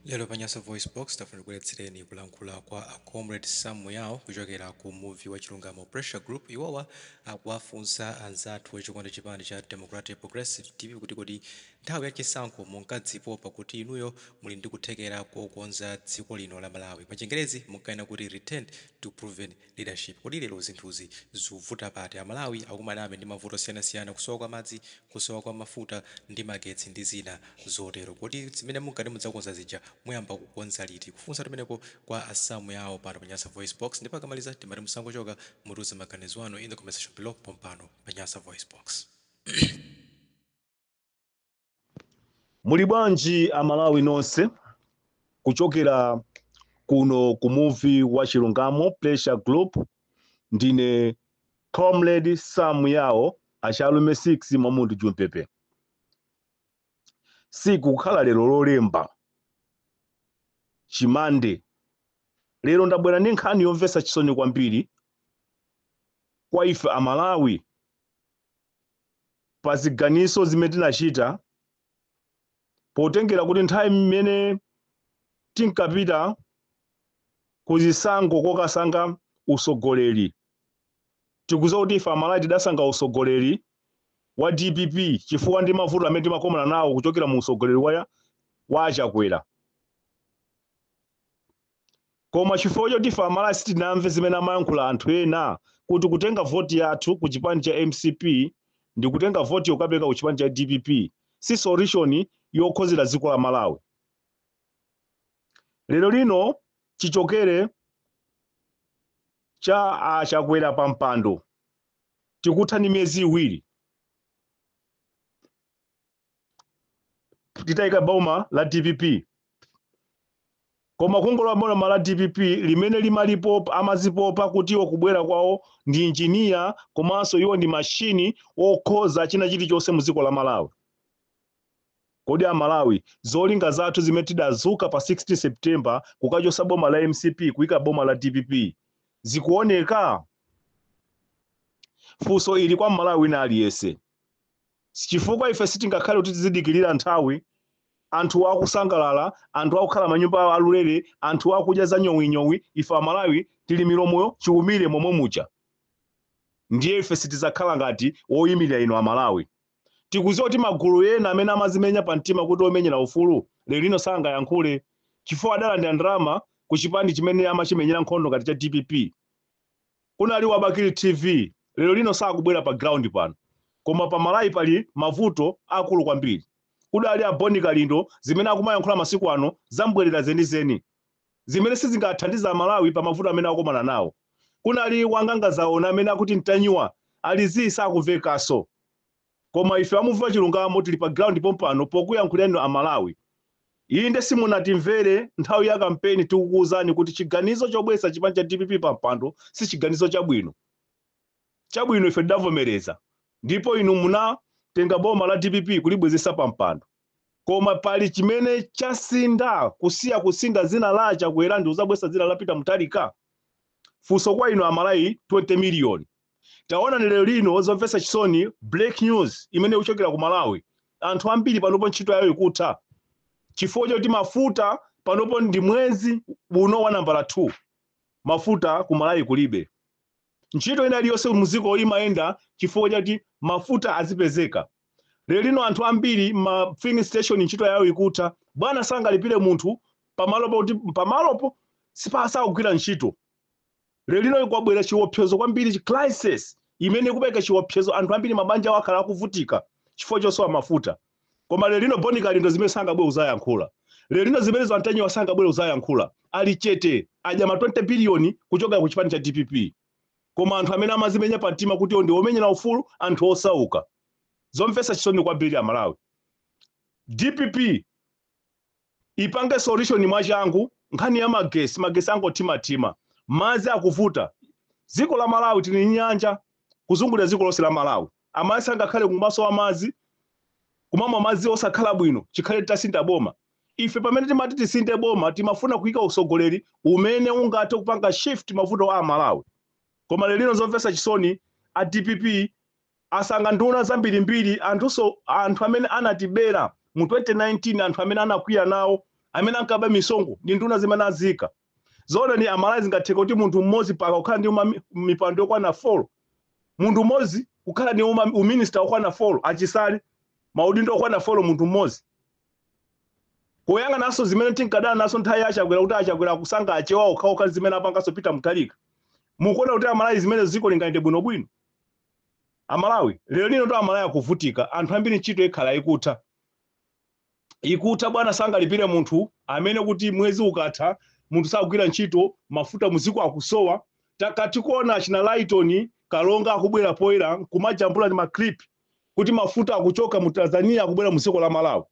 Lero pa Nyasa VoiceBox, tafuna tikubweretsereni kulankhula kwa a Comrade Sam Yawo kuchokera ku muvi wa Chilungamo Pressure Group. Iwowa akuwafunsa anzathu a chikondi chipani cha Democratic Progressive DPP kuti kodi nthawi ya chisankho munkadzipopa kuti inuyo muli ndi kuthekera kokonza dziko lino la Malawi. Pachingerezi munkanena kuti return to proven leadership. Kodi lero zinthuzi zikuvuta pati? Amalawi akumanabe ndi mavuto osiyanasiyana, kusowa kwa madzi, kusowa kwa mafuta ndi magetsi ndi zina zotero. Kodi zimene munkati mudzakonza zija muyamba kukonza liti? Kufunsa tumeneko kwa a Sam Yawo pano pa Nyasa VoiceBox ndipo akamaliza timati musangochoka, mutiuze maganizo anu in the comment section below pompano pa Nyasa VoiceBox. Muli bwanji Amalawi nonse kuchokera kuno ku muvi wa Chilungamo Pressure Group. Ndine Comrade Sam Yawo achalume 6 Mwamudu Jumpepe. Tsiku kukhala lero lolemba chimande lero ndabwera ndi nkhani yomvetsa chisoni kwambiri kwa ife Amalawi pa ziganizo zimene tinachita potengera kuti nthawi imene tinkapita ku zisankho kokasankha usogoleri tikudziwa kuti ife amalawi tidasankha usogoleri wa dpp chifukwa ndi mavuto amene timakomana nawo kuchokera mu usogoleri wa achakwera Koma chifukwa choti ife Amalawi sitinamve zimene amayankhula anthu ena kuti kutenga voti yathu ku chipani cha mcp ndikutenga votiyo kukapereka ku chipani cha dpp si solution yokhozera dziko la Malawi. Lero lino chichokere cha a Chakwera pa mpando tikutha ndi miyezi iwiri. titayika boma la dpp koma kungolowa boma la dpp limene limazipopa amazipopa kuti iwo kubwera kwawo ndi injiniya komanso iwo ndi mashini okhoza china chilichonse mu dziko la malawi kodi amalawi zolinga zathu zimene tidazuka pa 16 september kukachosa boma la mcp kuyika boma la dpp zikuoneka funso ili kwa mmalawi wina aliyense Chifukwa ife sitingakhale kuti tizidikirira nthawi, anthuwa akusangalala, anthu akukhala m'manyumba aulere, anthuwa akudya za nyowinyowi, ife Amalawi tili milomo chiumire momwe muja. Ndiye ife sitidzakhala ngati woimirira inu Amalawi. Tikudziwa kuti magulu ena amene amadzimenya pamtima kuti omenyera ufulu, lero lino sangayankhule chifukwa adalandira ndalama ku chipani chimene amachimenyera nkhondo ngati cha dpp. Kunali wa bakili TV lero lino sakubwera pa ground pano koma pa Malawi pali mavuto akulu kwambiri kudali a Boni kalindo zimene akumayankhula masiku ano zambwelera zenizeni zimene sizingathandize amalawi pa mavuto amene akukomana nawo kunali wa nganga za ona amene akuti ntanyiwa ali zii sakuvekaso Koma ife a Muvi wa Chilungamo tili pa ground pompano pokuyankhulira inu a Malawi. Inde simunatimvere nthawi ya kampeni tikukuuzani kuti chiganizo chobwetsa chipani cha dpp pa mpando sichiganizo chabwino. Chabwino ife tidavomereza ndipo inu munatenga boma la dpp kulibwezetsa pa mpando. Koma pali chimene chasintha kusiya kusintha dzina la Chakwera ndikuzabwetsa dzina la Peter Mutharika? Funso kwa inu a Malawi 20 million. Taonani lero lino zomvetsa chisoni break news imene ikuchokera ku Malawi. Anthu ambiri panopo ntchito yawo ikutha chifukwa choti mafuta panopo ndi mwezi uno wa nambala 2 mafuta ku Malawi kulibe. Ntchito ina iliyonse muziko imayenda chifukwa choti mafuta azipezeka. Lero lino anthu ambiri ma filling station ntchito yawo ikutha. Bwana sangalipire munthu pamalopo kuti pamalopo sipakugwira ntchito. Lelino kwabwera chiopsezo kwambiri crisis imene ikupereka chiopsezo anthu ambiri mabanja awo akhala akuvutika chifukwa chosowa mafuta koma lelino Boni Kalindo zimene sangabwere kuzayankhula lelino zimene a Ntanyiwa sangabwere kuzayankhula ali chete adya ma 20 billion kuchokera ku chipani cha dpp koma anthu amene amazimenya pa mtima kuti iwo ndi omenyera ufulu anthu osauka zomvetsa chisoni kwambiri amalawi dpp ipange solution mwachangu nkhani ya magesi magesi angothimathima madzi akuvuta dziko la malawi tili ndi nyanja kuzungulira dziko lonse la malawi amayi sangakhale kumasowa madzi kumamwa madzi osakhala bwino chikhale titasintha boma ife pamene timati tisinthe boma timafuna kuyika usogoleri umene ungathe kupanga shift mavuto a malawi koma lelino zomvetsa chisoni a dpp Asankha nduna zambirimbiri, anthunso anthu amene anatibera mu 2019 anthu amene anakwiya nawo amene ankaba misonkho ndi nduna zimene aziika. Zoona inu amalawi zingatheke kuti munthu mmodzi paka kukhala ndi uma, mipando yokwana 4 munthu mmodzi kukhala ndi uma, uminista wokwana 4 a Chisale maudindo okwana 4 munthu mmodzi kuyang'ananso zimene tinkadana nazo nthawi ya achakwera kuti achakwera akusankha achewa okhaokha zimene apanganso peter mutharika mukuona kuti amalawi zimene dziko lingayende bwinobwino amalawi lero lino ndoti amalawi akuvutika anthu ambiri ntchito ikhala ikutha ikutha bwana sangalipire munthu amene kuti mwezi ukatha munthu sakugwira ntchito mafuta muziko akusowa takatikuona achina laitoni kalonga akubwera poyera kumajambula ndi maclip kuti mafuta akuchoka mu tanzania akubwera muziko la malawi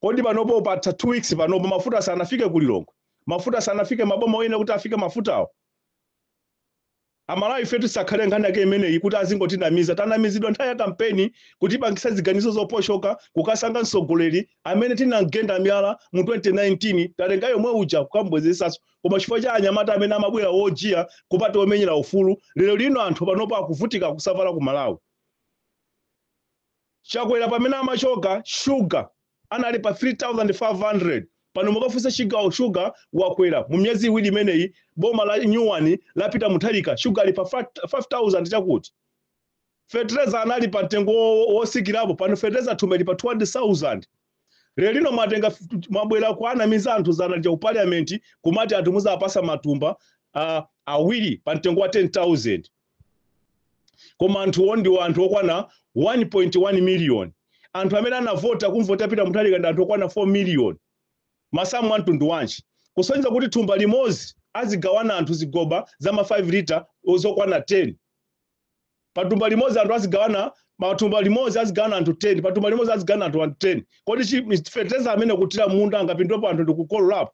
kodi panopo patha two weeks panopo mafuta sanafike kulilongwe mafuta sanafike maboma oyenera kuti afike mafutawo Amalawi ifetu tisakhale nkhani yake imeneyi kuti azingotinamiza, tanamizidwa nthawi ya kampeni kutipangisa ziganizo zoposhoka kukasankha msogoleli amene tinamgenda miyala mu 2019 tatenga yomwe uja kukamubwezeretsanso koma chifukwa cha anyamata amene amabwera wojiya kumati womenyera ufulu lero lino anthu panopo akuvutika kusavala ku Malawi. Chakwera pamene amachoka sugar anali pa 3500 pano mukafunsa chigawo sugar wakwera mu miyezi iwiri imeneyi boma la nyuwani la Peter Mutharika sugar ali pa 5000 chakuti. Fetereza anali pa mtengo wotsikirapo pano fetereza thumba lili pa 200,000. Lero lino mwatenga mwabwera kuanamiza anthu dzana lija ku parliament kumati anthu muzawapatsa matumba awiri pa mtengo wa 10000 koma anthuwo ndi anthu okwana 1.1 million anthu amene anavota kumvota Peter Mutharika ndi anthu okwana 4 million masamu a mtundu wanji kusonyeza kuti thumba limodzi azigawana anthu zigoba za ma 5 lita zokwana 10 Pa thumba limodzi anthu azigawana matumba limodzi azigawana anthu 10 pa thumba limodzi azigawana anthu 10 kodi fertilizer amene kuthira munda angapindulepo anthu ndikukololapo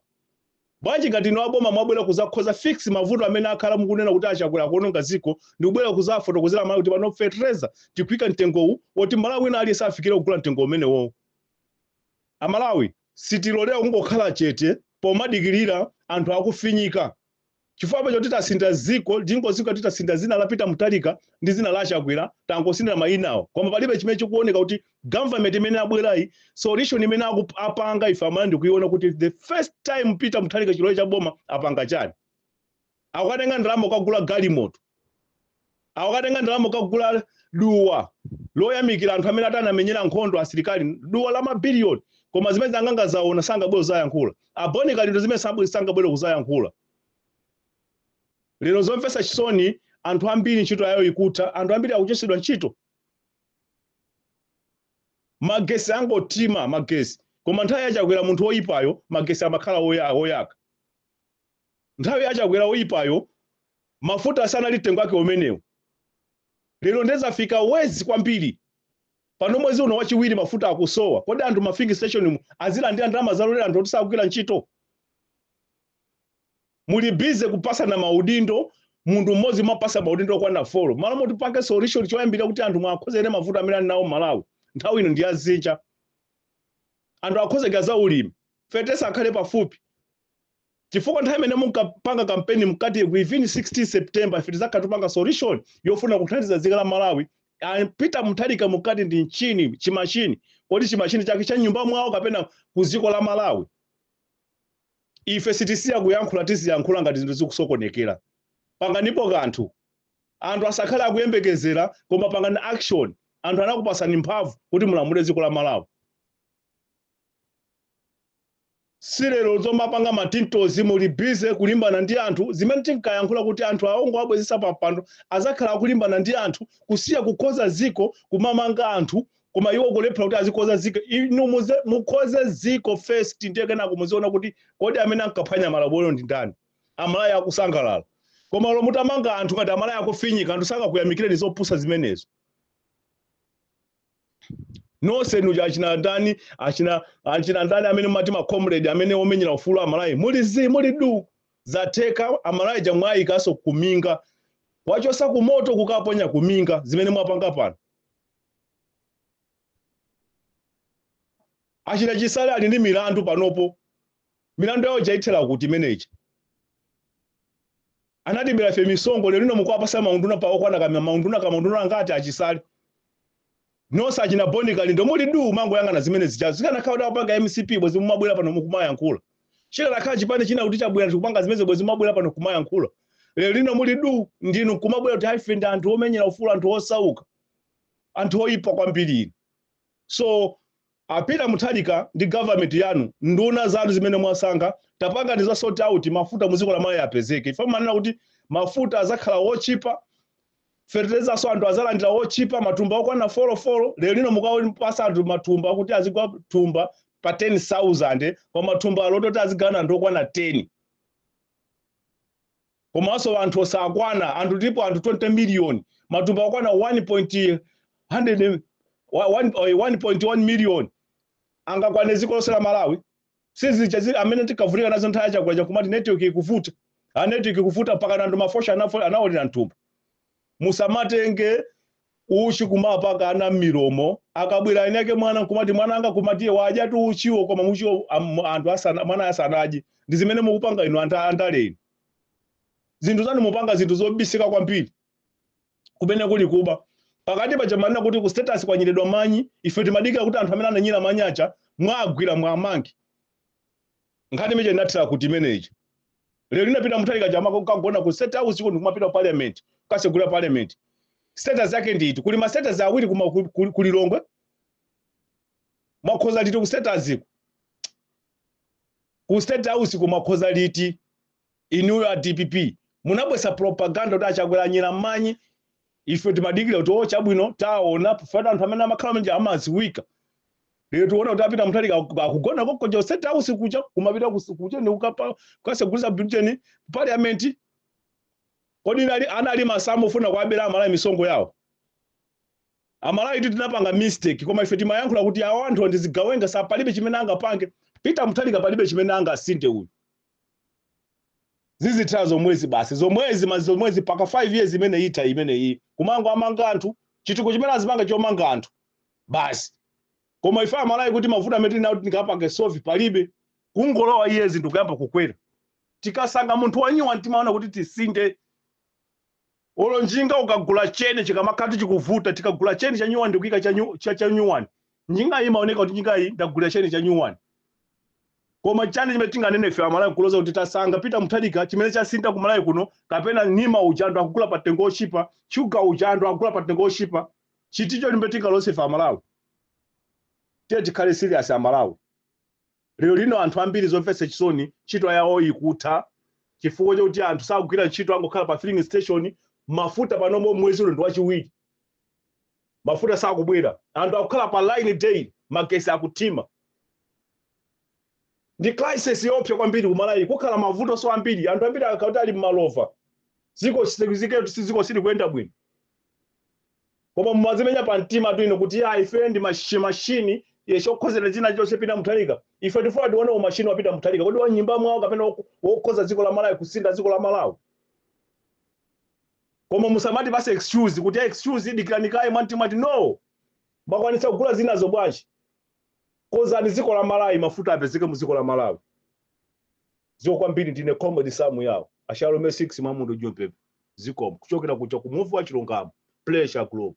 bwanji ngati inu aboma mwabwera kuzakonza fix mavuto amene mwakhala mukunena kuti achakwera akuononga dziko ndikubwera kuzafotokozera amalawi kuti pano fertilizer tikuika mtengowu woti mmalawi wina aliyense afikire kugula mtengo umenewo amalawi sitilolera kungokhala chete pomadikirira anthu akufinyika chifukwa apa choti tasintha dziko tingodziwa kuti tasintha dzina la Peter Mutharika ndi dzina la Chakwera tangosinthira mayinawo koma palibe chimene chikuoneka kuti government imene abwerayi solution imene apanga ine imene ndikuiona kuti the first time Peter Mutharika chilowe cha boma apanga chani akatenga ndalama kukagula galimoto Akatenga ndalama kukagula duwa loyamikira anthu amene ati anamenyera nkhondo asilikali duwa la mabiliyoni koma zimene a Sylvester Namiwa sangabwere kuzayankhula aboni kalindo zimene sangabwere kuzayankhula lero zomvetsa chisoni anthu ambiri ntchito yawo ikutha anthu ambiri akuchotsedwa ntchito magesi angothima magesi koma nthawi yachakwera munthu woyipayo magesi amakhala woyaka Nthawi ya Chakwera oyipayo mafuta sanali mtengo wake umenewo lero nde zafika worse kwambiri pano mwezi uno wachiwiri mafuta akusowa kodi anthu ma filling station mu azilandira ndalama za ulere anthu oti sakugwira ntchito muli busy kupatsana maudindo munthu mmodzi mumpatsa maudindo okwana folo malo moti mupange solution choyambira kuti anthu muwakonzere mavuto amene ali nawo mmalawi nthawi ino ndi ya dzinja anthu akonzeka za ulimi fetereza akhale pafupi chifukwa nthawi imene munkapanga kampeni munkati within 16 September ife tidzakhala tikupanga solution yofuna kuthandiza dziko la Malawi a Peter Mutharika munkati ndi mchini chimashini kodi chimashini chake cha nyumba mwawo kapena ku dziko la Malawi ife sitisiya kuyankhula tiziyankhula ngati zinthu zikusokonekera panganipo kanthu anthu asakhale akuyembekezera koma pangani action anthu anakupasani mphamvu kuti mulamule dziko la Malawi si lero zomapanga matintozi muli bize kulimbana ndi anthu zimene tinkayankhula kuti anthu awo ngowabwezetsa pa mpando azakhala akulimbana ndi anthu kusiya kukhoza ziko kumamanga anthu koma iwo kulephera kuti azikhoza ziko inu mukhoze ziko first ndiye kenako muziona kuti kodi amene ankaphwanya malamulo ndi ndani Amalawi akusangalala koma lero mutamanga anthu ngati Amalawi akufinyika anthu sangakuyamikireni zopusa zimenezo nonse nuja achina ndani achina achina ndani amene mati ma comrade amene omenyera ufulu Amalawi muli zi muli du zatheka Amalawi aja mwayikanso kuminga kuwachosa kumoto kukaponya kuminga zimene mwapanga pano achina chisale ali ndi milandu panopo milandu yawo ija ithera kuti imene ija Anatibela ife misonkho lero lino mukuwapasa maunduna pa okwana ka maunduna ka maunduna angati a chisale nonse achina boni kalindo muli duu mumangoyang'ana zimene zijazo zikanakhala kuti akupanga mcp bwezi mumabwela pano mukumayankhula chikanakhala chipani china kuti chabwela chikupanga zimenezo bwezi mumabwela pano kumayankhula lero lino muli duu ndinu nkumabwela kuti ife ndi anthu omenyera ufulu anthu osauka anthu oyipa kwambiri inu so A Peter Mutharika ndi government yanu, nduna zanu zimene mwasankha, tapangani za kusort out mafuta muziko la Malawi apezeke chifukwa mumanena kuti mafuta azakhala otchipa, fertilizanso anthu azalandila otchipa matumba okwana folo folo, lero lino mukuwapasa anthu matumba kuti azigula thumba pa 10,000 koma thumba lake loti azigawana anthu okwana 10. Komanso anthu osakwana anthu tilipo anthu 20 million matumba okwana 1 point hundred wa one oi 1.1 million angakwane dziko lonse la Malawi? Sizija zimene tinkavutika nazo nthawi ya Chakwera ija nkumati network ikuvuta, a network ikuvuta mpakana anthu ma voucher awo anaolera mthumba. musamatenge uchi kumapaka ana mmilomo akabwera eni ake mwana nkumati mwana anga kumatiye wadya tu uchiwo koma muchiwo am- anthu asana mwana asanadye ndi zimene mukupanga inu anta- andale inu zinthu zanu mupanga zinthu zobisika kwambiri kumene kuli kuba pakati paja manena kuti ku State House kwanyiridwa manyi ife timadikira kuti anthu amene ananyira manyi aja muwagwire muwamange nkhani imija inathera kuti imeneyija lero lina Peter Mutharika kaya amako kukagona ku state house kuno ndikumapita ku parliament kukasegula parliament status yake ndi iti kuli ma status awiri kuma ku- ku- ku Lilongwe mwakhoza liti ku status ku ku state house mwakhoza liti Inuyo a DPP munabwesa propaganda kuti a Chakwera anyera manyi ife timadikira kuti o chabwino taona mufatu anthu amene amakhala m'manja amaziwika lero tiona kuti a Peter Mutharika akugona konko ku state house kucha kumapita kus- kucheni kukapa kukasegulisa britain parliament kodi nali anali masamu ofuna kuabera Amalawi misonkho yawo Amalawitu tinapanga mistake koma ife timayankhula kuti awa anthu ndi zigawenga zapalibe chimene angapange Peter Mutharika palibe chimene angasinthe uyu zizithela zomwezi basi zomwezi magetsi zomwezi mpaka 5 years imene itha imeneyi kumangowamanga anthu chitukuko chimene azipanga chomanga anthu basi koma ife Amalawi kuti mavuto amene tinawo kuti tingapange solve palibe kungolowa iye zinthu kuyamba kukwera tikasankha munthu wa nyuwani timaona kuti tisinthe Olo njinga ukagula cheni chikamakhala kuti chikuvuta tikagula cheni cha new one ndikuika cha new cha, cha new one njingayi imaoneka kuti njingayi ndagulira cheni cha new one koma chani chimene tinganene ife Amalawi kuloza kuti tasankha Peter Mutharika chimene chasintha ku Malawi kuno kapena nsima ija anthu akugula pa mtengo ochipa shuga uja anthu akugula pa mtengo ochipa ndi chiti chimene tingaloze ife Amalawi tiye tikhale serious Amalawi Lero lino anthu ambiri zomvetsa chisoni ntchito yawo ikutha chifukwa choti anthu sakugwira ntchito angokhala pa filling station mafuta panopo mwezi uno ndi wachiwiri mafuta sakubwera anthu akukhala pa line daily magesi akuthima ndi crisis yoopsa kwambiri ku Malawi kukhala mavuto so ambiri anthu ambiri akakhala kuti ali malova dziko si- dziko silikuyenda bwino koma mumazimenya pa mtimatu inu kuti ya ifeyo ndi mashi- mashini yokhozera china chilichonse Peter Mutharika ife tifuna tione umashini wa Peter Mutharika kodi wa m'nyumba mwawo kapena wok- wokhoza dziko la Malawi kusintha dziko la Malawi koma musamatipase excuse kuti excuse dikirani kaye mwangoti no bakwanisa kugula zinazo bwanji konzani dziko la Malawi mafuta apezeke mu dziko la Malawi zikomo kwambiri ndine comrade Samuel Shalom 6 Mwamundo Jopepe zikomo kuchokera kuja ku Muvi wa Chilungamo Pressure Group.